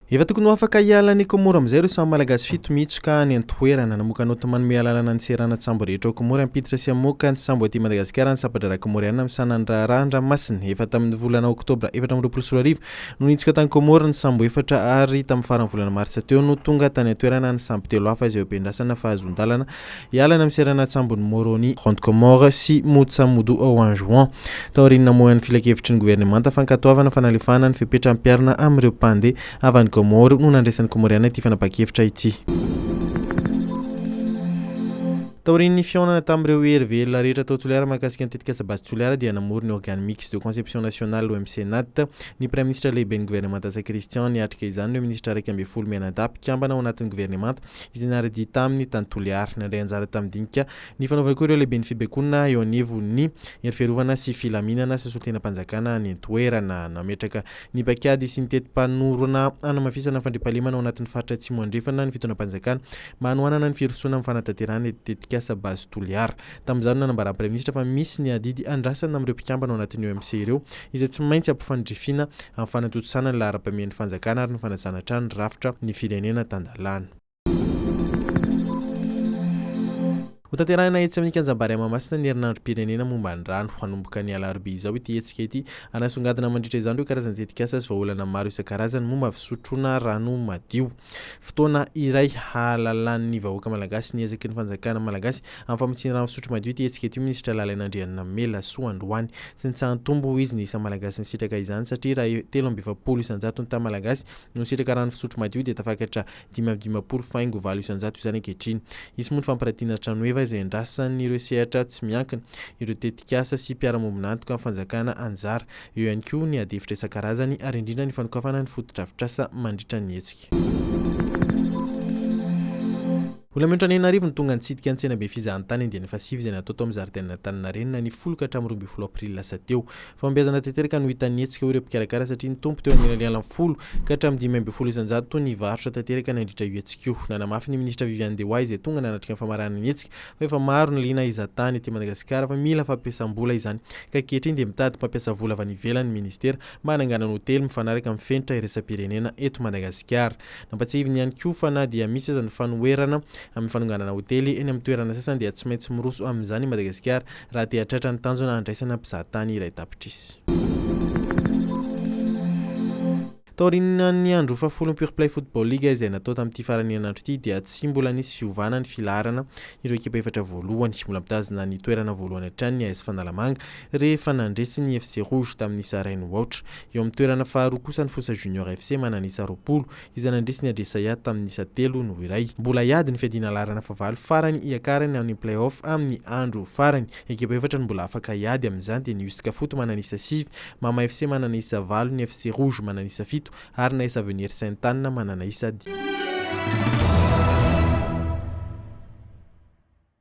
Efa tokony ho afaka hiala any Komoro amin'izay ireo samy Malagasy fito miitsoka any an-toerana. Namoaka naoty manome alalana ny seranan-tsambo rehetra ao Komory hampiditra sy hamoaka ny sambo aty Madagasikara ny Sampan-draharaha Komoriana misahana ny raharaha an-dranomasina. Efa tamin'ny volana oktobra efatra amby roapolo sy roa arivo no niitsoka tany Komoro ny sambo efatra ary tamin'ny faran'ny volana martsa teo no tonga tany an-toerana ny sambo telo hafa izay hobendrasana fahazoan-dalana Hiala any amin'ny seranan-tsambon'i Moroni, Grande Comore, sy Mutsamudu ao Anjouan, taorian'ny namoahany filankevitry ny governemanta fankatoavana fanalefahana ny fepetra hampiharina amin'ireo mpandeha avy any Comores no nandraisan'ny Komoriana ity fanapahan-kevitra ity. Taorian'ny fihaonana tamin'ireo hery velona rehetra tao Toliara mahakasika ny tetikasa Base Toliara dia namory ny Organe Mixte de Conception Nationale, OMCNAT, ny Praiminisitra Lehiben'ny Governemanta Ntsay Christian. Niatrika izany ireo minisitra iraika ambin'ny folo mianadahy mpikambana ao anatin'ny governemanta izay nare-dia taminy tany Toliary. Nandray anjara tamin'ny dinika nifanaovana koa ireo lehiben'ny fibaikoana eo anivon'ny Hery Fiarovana sy Filaminana sy solontenam-panjakana any an-toerana. Nametraka ny paikady sy ny teti-panorona hanamafisana ny fandriampahalemana ao anatin'ny faritra Atsimo Andrefana ny fitaonam-panjakana mba hanohanana ny firosoana amin'ny fanatanterahana ny tetikasa Base Toliara. Tamin'izany, nanambaran'ny Praiminisitra fa misy ny adidy andrasana amin'ireo mpikambana ao anatin'ny OMC ireo, izay tsy maintsy ampifandrifina amin'ny fanatontosana ny laharam-pahamehany fanjakana ary ny fanajana hatrany ny rafitra ny firenena tan-dalàna. Hotanterahina etsy amin'ny Kianjam-bary Mahamasina ny herinandrom-pirenena momba ny rano. Hanomboka ny alarobia izao ity hetsika ity, ary hasongadina mandritra izany ireo karazana tetikasa sy vahaolana maro isan-karazany momba ny fisotroana rano madio. Fotoana iray hahalalan'ny vahoaka malagasy ny ezaky ny fanjakana malagasy Amin'ny famotsiana rano fisotro madio ity hetsika ity, Minisitra Lalina Andrianamelasoa androany. Tsy nitsaha-ntombo, hoy izy, ny isa Malagasy nisitraka izany satria raha e, telo amby efapolo isan-jatony tamin'ny Malagasy no nisitraka rano fisotro madio dia tafakatra dimy amby dimampolo faingo valo isan-jato izany ankehitriny. Hisy moa ny fampiratiana tranoheva izay andrasan'ireo sehatra tsy miankina, ireo tetikasa sy mpiara-mombon'antoka amin'ny fanjakana anjara. Eo ihany koa ny adihevitra isan-karazany ary indrindra ny fanokafana ny fotodrafitrasa mandritra ny hetsika. Olona mihoatra ny enina arivo no tonga nitsidika ny tsenabe fizahantany andiany fahasivy izay natao tao amin'ny zaridainan'Antaninarenina ny folo ka hatramin'ny roa ambin'ny folo aprily lasa teo. Fahombiazana tanteraka no hitan'ny hetsika hoy ireo mpikarakara satria nitombo teo anelanelan'ny folo ka hatramin'ny dimy ambin'ny folo isan-jato ny varotra tanteraka nandritra io hetsika io. Nanamafy ny minisitra Viviane Dewa izay tonga nanatrika ny famaranana ny hetsika fa efa maro ny liana hizahantany ety Madagasikara fa mila fampiasam-bola izany ka ankehitriny dia mitady mpampiasa vola avy any ivelany ny minisitera mba hananganana hotely mifanaraka amin'ny fenitra iraisam-pirenena eto Madagasikara. Nampatsiahiviny ihany koa fa na dia misy aza ny fanoherana amin'ny fanonganana hotely eny amin'ny toerana sasany dia tsy maintsy miroso amin'izany i Madagasikara raha te hahatratra ny tanjona handraisana mpizahatany iray tapitrisa. Taorian'ny andro fahafolon'ny Pure Play Football League izay natao tamin'ity faran'ny herinandro ity dia tsy mbola nisy fiovana ny filaharana ireo ekipa efatra voalohany. Mbola mitazona ny toerana voalohany hatrany ny AS Fanalamanga rehefa nandresy ny FC Rouge tamin'ny isa iray no aotra. Eo amin'ny toerana faharoa kosa ny Fosa Junior FC manana isa roapolo, izay nandresy ny Adresaya tamin'ny isa telo no iray. Mbola hiady ny fiadiana laharana fahavalo farany hiakarany amin'ny play-off amin'ny andro farany. Ekipa efatra no mbola afaka hiady amin'izany dia ny Usca Foot manana isa sivy, Mama FC manana isa valo, ny FC Rouge manana isa fito ary ny AS Avenir Sainte Anne manana isa dimy.